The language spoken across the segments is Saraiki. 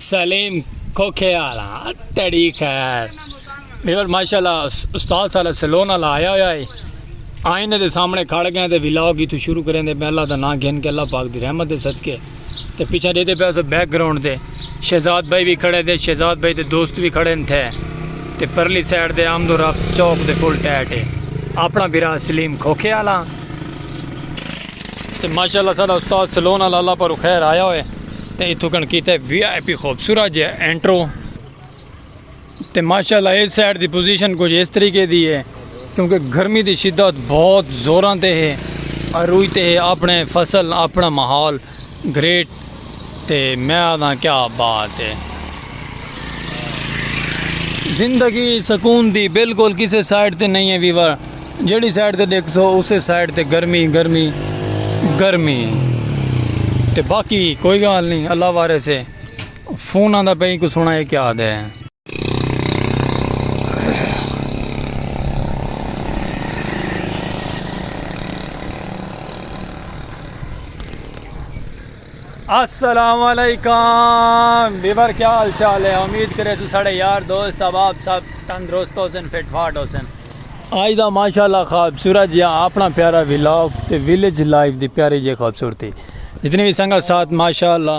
سلیم کھوکھے والا تیری خیر میور ماشاءاللہ استاد سارا سلون والا آیا ہویا ہے آئینے دے سامنے کھڑ گئے تے ولاگ اتو شروع کریں دے میں اللہ دا نام گھن کے اللہ پاک دی رحمت دے صدقے تے پیچھے دیتے پہ اسے بیک گراؤنڈ دے شہزاد بھائی بھی کھڑے دے شہزاد بھائی دے دوست بھی کھڑے تھے تے پرلی سائیڈ دے آمد و رفت چوک دے فل ٹیٹ ہے اپنا بیرا سلیم کھوکھے والا تے ماشاءاللہ ساڈا استاد سلونا لالا پرو خیر آیا ہوئے تے ایتھوں کن کیتا ہے وی آئی پی خوبصورت جے انٹرو تے ماشاءاللہ اس سائیڈ دی پوزیشن کچھ اس طریقے دی ہے کیونکہ گرمی دی شدت بہت زوراں تے ہے اروئی تے ہے اپنے فصل اپنا ماحول گریٹ تے میں آہداں کیا بات ہے۔ زندگی سکون دی بالکل کسے سائیڈ تے نئیں ہے ویور جیڑھی سائیڈ تے ڈیکھ سو اسے سائیڈ تے گرمی گرمی گرمی تے باقی کوئی گال نئیں اللہ وارث ہے فون آندا پئیں کو سنا ہے کیا دے۔ السلام علیکم بیور کیا حال چال ہے امید کرے سو سڑے یار دوست اب آپ سب تندرست ہو سن فٹ فاٹ ہو سن آج دا ماشاءاللہ خوبصورت جہاں اپنا پیارا ویلاگ تے ویلیج لائف دی پیاری جے خوبصورتی جتنی بھی سنگت ساتھ ماشاءاللہ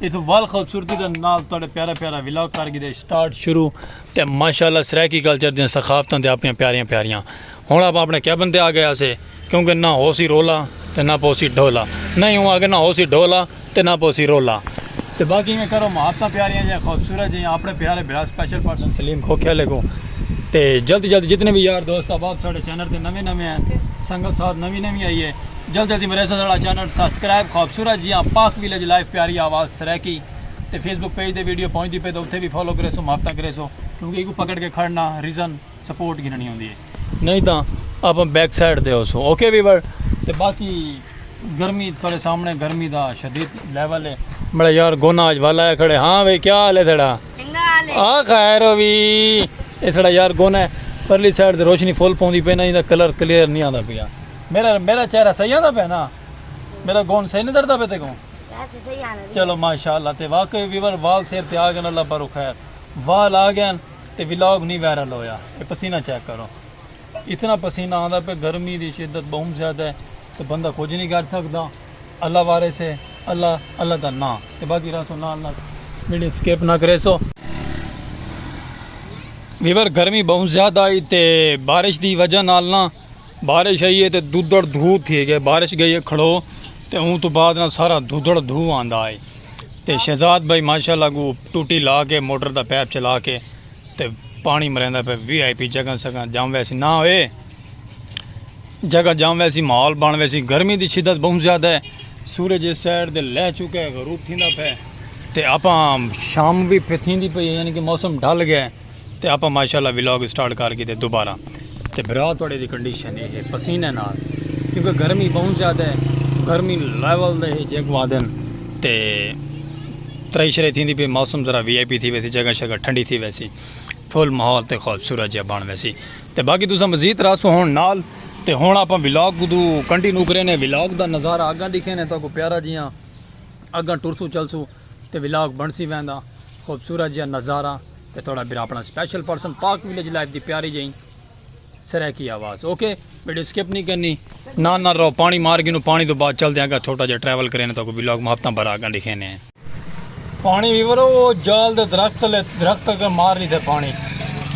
اس وال خوبصورتی دے نال تہاڈے پیارا پیارا ولاگ کر گئے سٹارٹ شروع تے ماشاءاللہ سرائیکی کلچر دیاں ثقافتاں تے اپنیاں پیاریاں پیاریاں ہن آپ اپنے کیبن تے آ گئے اسے کیونکہ نہ ہو سی رولا تے نہ پو سی ڈھولا نہیں ہوں آگے نہ ہو سی ڈھولا تے نہ پو سی رولا تے باقی میں کرو محبتاں پیاریاں جے خوبصورت جے اپنے پیارے بھرا سپیشل پرسن سلیم کھوکھے لے کو تے جلد جلد جتنے بھی یار دوست احباب ساڈے چینل تے نویں نویں ہیں سنگت ساتھ نویں نویں آئی ہے جلدی جلدی میرے ساڑا چینل سبسکرائب خوبصورت جیاں پاک ویلج لائف پیاری آواز سریکی تے فیس بک پیج دے ویڈیو پہنچ دی پہ تو اتھے بھی فالو کرے سو محبتاں کرے سو کیونکہ ایکو پکڑ کے کھڑنا ریزن سپورٹ گھننی ہوندی ہے نہیں تاں آپ بیک سائڈ دے ہو سو اوکے ویور تے باقی گرمی تھوڑے سامنے گرمی دا شدید لیول ہے بڑا یار گونا آج والا ہے کھڑے ہاں بھئی کیا حال ہے تھڑا آ خیر ہو بھی اس یار گونا ہے پرلی سائڈ دے روشنی فول پوندی پہ نہیں دا کلر کلیئر نہیں آندا پیا میرا میرا چہرہ صحیح آندا پہ نا میرا گون صحیح نظر دا پہ تے گون چلو ماشاءاللہ تے واقعی ویور وال سیر تے آ گئے اللہ پر خیر وال آ گئے تے ولاگ نہیں وائرل ہویا اے پسینہ چیک کرو اتنا پسینہ آندا پہ گرمی دی شدت بہت زیادہ ہے تے بندہ کچھ نہیں کر سکدا اللہ وارے سے اللہ اللہ دا نا تے باقی راسو نا اللہ میڈی سکیپ نہ کرے سو ویور گرمی بہت زیادہ آئی تے بارش دی وجہ نال نا بارش آئی ہے تے دودڑ دھو تھی گئے بارش گئی ہے کھڑو تے اون تو بعد نہ سارا دودڑ دھو آندا ہے تے شہزاد بھائی ماشاءاللہ گو ٹوٹی لا کے موٹر دا پیپ چلا کے تے پانی مریندا پہ وی آئی پی جگہ سگا جام ویسی نہ ہوئے جگہ جام ویسی ماحول بن ویسی گرمی دی شدت بہت زیادہ ہے سورج اس سائڈ دے لہ چکا ہے غروب تھیندا پہ تے اپا شام بھی پھتھیندی پئی یعنی کہ موسم ڈھل گیا ہے تے آپاں ماشاءاللہ ولاگ سٹارٹ کر گھدے دوبارہ تے بھرا تہاڈے دی کنڈیشن اے ہے پسینے نال کیونکہ گرمی بہوں زیادہ ہے گرمی لیول دے ہے جیکوں آدھن تے ترے شرے تھیندی پی موسم ذرا وی آئی پی تھی ویسی جگہ شگہ ٹھنڈی تھی ویسی فل ماحول تے خوبصورت جیا بن ویسی تے باقی تساں مزید راسو ہون نال تے ہن آپاں ولاگ کدو کنٹینیو کرینے ولاگ دا نظارہ اگاں دکھینے تہاکوں پیارا جیاں اگاں ٹرسوں چلسوں تے ولاگ بنڑسی ویندا خوبصورت جیہا نظارہ تے تہاڈا بھرا اپنا special person Pak village life دی پیاری جئی سرائیکی آواز اوکے ویڈیو سکپ نہیں کرنی نہ نہ رو پانی مار گینو پانی تو بعد چل دیاں گا چھوٹا جیہا ٹریول کرینے تو کو ولاگ محبتاں بھرا گاں ڈکھینے ہیں پانی ویور او جال دے درخت لے درخت اگر مار لی تھے پانی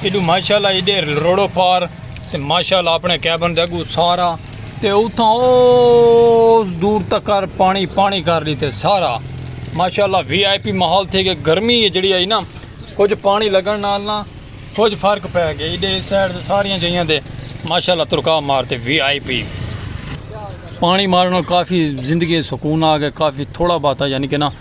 ایڈو ماشاءاللہ ایڈے روڑو پار تے ماشاءاللہ اپنے کیبن دے اگو سارا تے اتھاں اوس دور تکر پانی پانی کر ڈیتے سارا ماشاءاللہ وی آئی پی ماحول تھے گئے گرمی ہے جڑی آئی نا کچھ پانی لگن نال نا کچھ فرق پہ گئے ایڈے سائڈ دے ساریاں جہیاں دے ماشاءاللہ ترکا مارتے وی آئی پی پانی مارن کافی زندگی سکون آ گئے کافی تھوڑا باتا یعنی کہ نا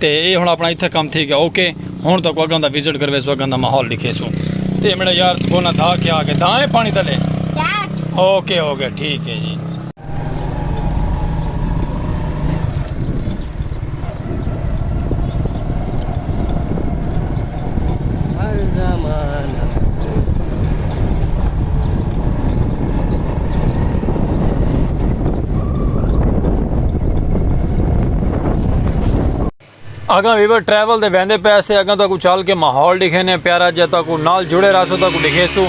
تے اے ہن اپنا اتھے کم تھی گیا اوکے ہن تاکو اگاں دا وزٹ کرویسو اگاں دا ماحول ڈکھیسو تے میرا یار تکونا دھا کے آگے دھا ہے پانی تلے اوکے ہو گیا ٹھیک ہے جی اگاں ویور ٹریول دے ویندے پے سے اگاں تاکو چل کے ماحول دکھے نے پیارا جے تاکو نال جڑے رہا سو تاکو دکھے سو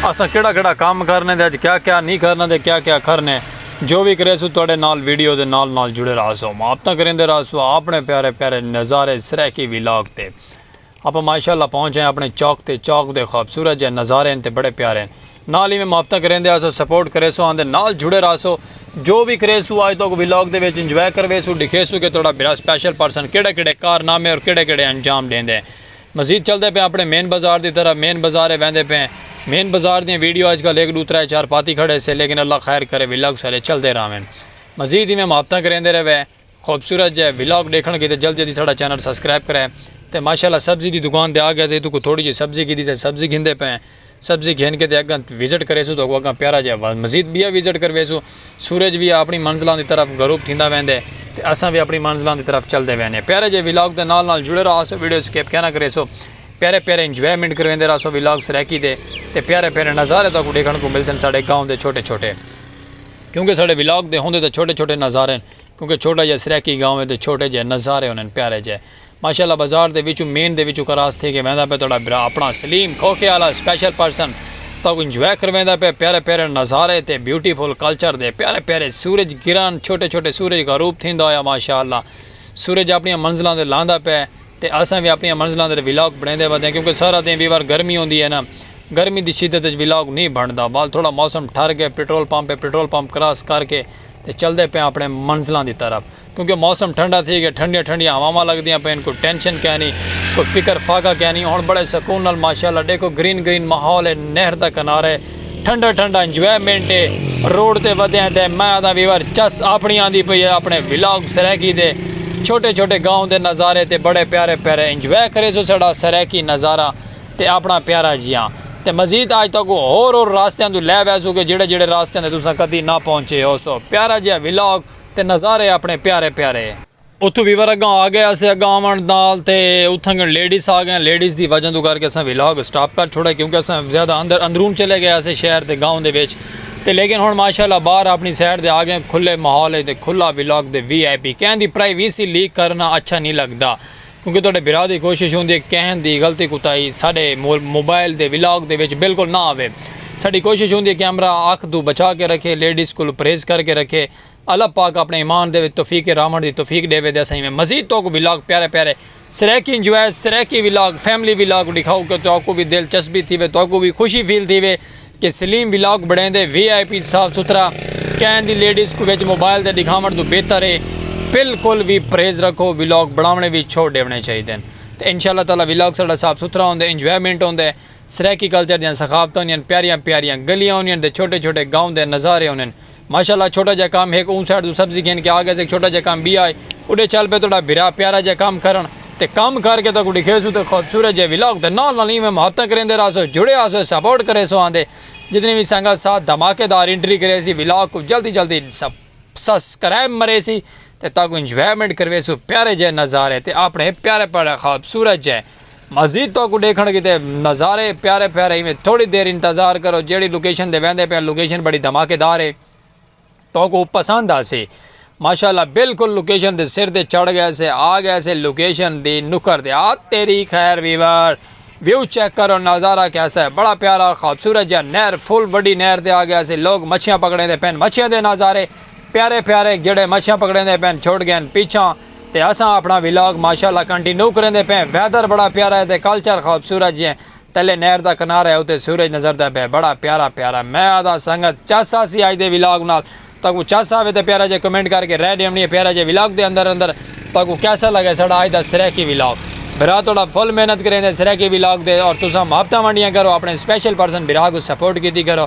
اسا کیڑا کیڑا کام کرنے دے اج کیا کیا نہیں کرنا دے کیا کیا کرنے جو بھی کرے سو تواڈے نال ویڈیو دے نال نال جڑے رہا سو ماپتہ کریں دے رہا سو اپنے پیارے پیارے نظارے سرے کی ویلاگ تے آپاں ماشاء اللہ پہنچ آئے اپنے چوک تے چوک دے خوبصورت جے نظارے ہن تے بڑے پیارے ہن نال ایویں محبتاں کریندے آسو سپورٹ کریسو آندے نال جڑے راہسو جو وی کریسو آج توک ولاگ دے وچ انجوائے کرویسو ڈکھیسو کہ تہاڈا بھرا سپیشل پرسن کیڑے کیڑے کارنامے اور کیڑے کیڑے انجام ڈیندے ہیں مزید چلدے پئے اپنے مین بازار دی طرف مین بازارے ویندے پئے ہیں مین بازار دیاں ویڈیو اج کل ہک ڈو ترے چار پاتی کھڑے سے لیکن اللہ خیر کرے ولاگ سارے چلدے راہون مزید ایویں محبتاں کریندے رہوے۔ خوبصورت جے ولاگ ڈیکھن کیتے جلد جلدی ساڈا چینل سبسکرائب کرے تے ماشاءاللہ سبزی دی دکان تے آگیا تے اتھوں کوئی تھوڑی جئی سبزی گھدی سے سبزی گھندے پئے ہیں سبزی گھن کے تے اگاں وزٹ کریسوں تہاکوں اگاں پیارا جیا مزید بیا وزٹ کرویسوں سورج وی اپنی منزلاں دی طرف غروب تھیندا ویندے تے اساں وی اپنی منزلاں دی طرف چلدے وینے پیارے جے ولاگ دے نال نال جڑے راہسو ویڈیو سکپ کینا کریسو پیارے پیارے انجوائمنٹ کرویندے راہسو ولاگ سرائیکی دے تے پیارے پیارے نظارے تہاکوں ڈیکھن کوں ملسن ساڈے گاؤں دے چھوٹے چھوٹے کیونکہ ساڈے ولاگ دے ہوندے تے چھوٹے چھوٹے نظارے ہیں کیونکہ چھوٹا جیہا سرائیکی گاؤں ہے تے چھوٹے جیہے نظارے ہونن پیارے جیہے ماشاءاللہ بازار دے وچوں مین دے وچوں کراس تھی کے ویندا پئے تہاڈا بھرا اپنا سلیم کھوکھے آلا سپیشل پرسن تہاکوں انجوائے کرویندا پئے پیارے پیارے نظارے تے بیوٹی فل کلچر دے پیارے پیارے سورج گرہن چھوٹے چھوٹے سورج غروب تھیندا ہویا ماشاءاللہ سورج اپنیاں منزلاں تے لاندا پئے تے اساں وی اپنیاں منزلاں تے ولاگ بنڑیندے ودیاں کیونکہ سارا دیں ویور گرمی ہوندی ہے نا گرمی دی شدت وچ ولاگ نی بنڑدا وال تھوڑا موسم ٹھر گئے پٹرول پمپ ہے پٹرول پمپ کراس کر کے تے چلدے پیاں اپنڑے منزلاں دی طرف کیونکہ موسم ٹھنڈا تھی گیا ٹھنڈیاں ٹھنڈیاں ہواواں لگدیاں پئین کوئی ٹینشن کینی کوئی فکر فاقہ کینی ہن بڑے سکون نال ماشاءاللہ ڈیکھو گرین گرین ماحول ہے نہر دا کنارہ ہے ٹھنڈا ٹھنڈا انجوائمنٹ ہے روڈ تے ودیاں تے میں آدھاں ویور چس اپنڑی آندی پئی ہے اپنڑے ولاگ سرائیکی دے چھوٹے چھوٹے گاؤں دے نظارے تے بڑے پیارے پیارے انجوائے کریسو ساڑا سرائیکی نظارہ تے آپنڑاں پیارا جیاں تے مزید آج تہاکوں ہور ہور راستیاں توں لے ویسوں گے جیڑھے جیڑھے راستیاں تے تساں کدی نہ پہنچے ہوسو پیارا جیہا ولاگ تے نظارے آپنڑے پیارے پیارے۔ اتھوں ویور اگاں آگئے اسے اگاں آونڑ نال تے اتھنگن لیڈیز آگئیاں لیڈیز دی وجہ توں کر کے اساں ولاگ اسٹاپ کر چھوڑا کیونکہ اساں زیادہ اندر اندرون چلے گئے اسے شہر دے گاؤں دے وچ تے لیکن ہنڑ ماشاءاللہ باہر آپنڑی سائیڈ تے آگئے کھلے ماحول اچ تے کھلا ولاگ دے وی آئی پی کہیں دی پرائیویسی لیک کرنا اچھا نی لگدا کیونکہ تہاڈے بھرا دی کوشش ہوندی ہے کہ کہیں دی غلطی کوتاہی ساڈے موبائل دے ولاگ دے وچ بالکل نہ آوے۔ ساڈی کوشش ہوندی ہے کیمرہ اکھ توں بچا کے رکھے، لیڈیز کولوں پرہیز کر کے رکھے۔ اللہ پاک اپنے ایمان دے وچ توفیق راہونڑ دی توفیق ڈیوے تے اساں ایویں مزید تہاکوں ولاگ پیارے پیارے Saraiki enjoy Saraiki vlog family vlog ڈکھاؤ کہ تہاکوں وی دلچسپی تھیوے تہاکوں وی خوشی فیل تھیوے۔ کہ سلیم ولاگ بنڑیندے وی آئی پی صاف ستھرا کین دی لیڈیز کوں وچ موبائل تے ڈکھاونڑ توں بہتر اے بلکل وی پرہیز رکھو ولاگ بنڑاونڑے وی چھوڑ ڈیونڑے چاہیدن تے انشاءاللہ تعالی ولاگ ساڈا صاف ستھرا ہوندے انجوائمنٹ ہوندے سرائیکی کلچر دیاں ثقافتاں ہوندیاں پیاریاں پیاریاں گلیاں ہوندیاں تے چھوٹے چھوٹے گاؤں دے نظارے ہوندن ماشاءاللہ چھوٹا جا کام ہک اوں سائیڈ توں سبزی گھن کے آ گئے سے ہک چھوٹا جا کام بیا ہے اڈے چل پے تہاڈا بھرا پیارا جا کام کرن تے کم کر کے تہاکوں ڈکھیسوں تے خوبصورت جے ولاگ دے نال نال ایویں محبتاں کریندے راہسو جڑے آسو سپورٹ کریسو آندے جتنی وی سنگت ساتھ دھماکے دار انٹری کریسی ولاگ کوں جلدی جلدی سسکرائب مریسی تے تہاکوں انجوائمنٹ کرویسو پیارے جے نظارے تے اپنے پیارے پیارے خوبصورت جے مزید تہاکوں ڈیکھنڑ کیتے نظارے پیارے پیارے ایویں تھوڑی دیر انتظار کرو جیڑھی لوکیشن دے ویندے پیاں لوکیشن بڑی دھماکے دار ہے تہاکوں پسند آسے ماشاءاللہ بالکل لوکیشن دے سر تے چڑھ گئے سے آ گئے سے لوکیشن دی نکھر تے آ تیری خیر ویور ویو چیک کرو نظارہ کیسا ہے بڑا پیارا اور خوبصورت جا نہر فل وڈی نہر تے آ گئے سے لوگ مچھیاں پکڑیں دے پین مچھیاں دے نظارے پیارے پیارے جڑے مچھیاں پکڑیں دے پین چھوڑ گئے پیچھاں تے اساں اپنڑاں ولاگ ماشاءاللہ کنٹینو کریندے پئے ویدر بڑا پیارا ہے تے کلچر خوبصورت جئیں تلے نہر دا کنارہ ہے اتے سورج نظردے پئے بڑا پیارا پیارا میں آہداں سنگت چس آسی اج دے ولاگ نال تہاکوں چس آوے تے پیارا جئیں کمنٹ کر کے رائے ڈیونڑی ہے پیارا جئیں ولاگ دے اندر اندر تہاکوں کیسا لگے ساڈا اج دا سرائیکی ولاگ بھرا تہاڈا فل محنت کریندے سرائیکی ولاگ دے اور تساں محبتاں ونڈیاں کرو اپنڑے سپیشل پرسن بھرا کوں سپورٹ کیتی کرو۔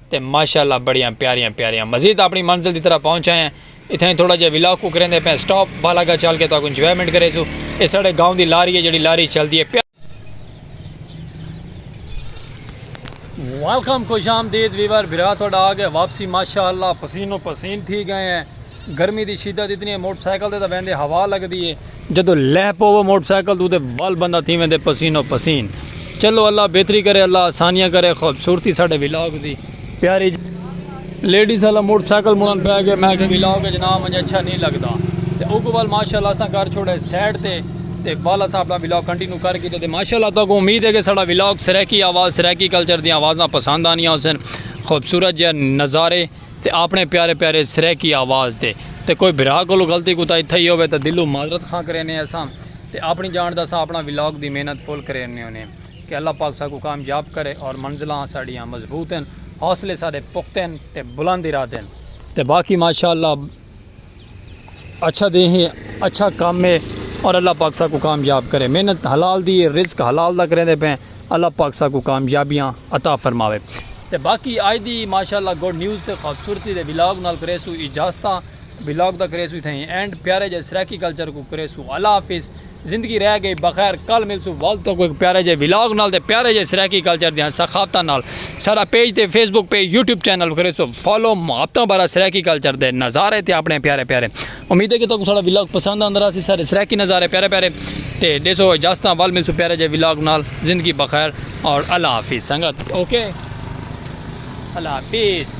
تے ماشاءاللہ بڑیاں پیاریاں پیاریاں مزید اپنی منزل دی طرف پہنچ آئے ہیں اتھائیں تھوڑا جیہا ولاگ کو کریندے پئے ہیں سٹاپ بالا گا چل کے تہاکوں انجوائمنٹ کریسوں اے ساڈے گاؤں دی لاری ہے جیہڑی لاری چلدی ہے پیاریاں ویلکم خوش آمدید ویور بھرا تہاڈا آ گئے واپسی ماشاءاللہ پسینو پسین تھی گئے ہیں۔ گرمی دی شدت اتنی ہے موٹر سائیکل تے تاں ویندے ہوا لگدی ہے۔ جدوں لہہ پوو موٹر سائیکل توں تے ول بندہ تھی ویندے پسین و پسین۔ چلو اللہ بہتری کرے اللہ آسانیاں کرے خوبصورتی ساڈے ولاگ دی پیاری جی۔ لیڈیز آلا موٹر سائیکل مڑن پے گئے میں آکھیا ولاگ اچ نہ آونج اچھا نی لگدا تے اوکوں ول ماشاءاللہ اساں کر چھوڑے سائیڈ تے تے ول اساں اپنا ولاگ کنٹینیو کر کیتے تے ماشاءاللہ تہاکوں امید ہے کہ ساڈا ولاگ سرائیکی آواز سرائیکی کلچر دیاں آوازاں پسند آنیاں ہوسن خوبصورت جیہے نظارے تے آپنڑے پیارے پیارے سرائیکی آواز تے تے کوئی بھرا کولوں غلطی کوتاہی تھئی ہووے تاں دلوں معذرت خواں کرینے اساں تے آپنڑی جانڑ دا اساں آپنڑا ولاگ دی محنت فل کرینے ہونے کہ اللہ پاک ساکوں کامیاب کرے اور منزلاں ساڈیاں مضبوط ہن حوصلے ساڈے پختہ ہن تے بلند ارادے ہن تے باقی ماشاءاللہ اچھا دے ہیں اچھا کام ہے اور اللہ پاک سا کو کامیاب کرے محنت حلال دی رزق حلال دا کریں دے پہ اللہ پاک سا کو کامیابیاں عطا فرماوے تے باقی آج دی ماشاءاللہ گوڈ نیوز تے خوبصورتی دے ولاگ نال کرے سو اجازتاں ولاگ دا کرے سو تھیں اینڈ پیارے جے سرائیکی کلچر کو کرے سو اللہ حافظ زندگی رہ گئی بخیر کل ملسوں ول تہاکوں ہک پیارے جئے ولاگ نال تے پیارے جئے سرائیکی کلچر دیاں ثقافتاں نال ساڈا پیج تے Facebook page YouTube channel کریسو فالو محبتاں بھرا سرائیکی کلچر دے نظارے تے اپنے پیارے پیارے امید ہے کہ تہاکوں ساڈا ولاگ پسند آندا راہسی سارے سرائیکی نظارے پیارے پیارے تے ڈیسو اجازتاں ول ملسوں پیارے جئے ولاگ نال زندگی بخیر اور اللہ حافظ سنگت اوکے اللہ حافظ.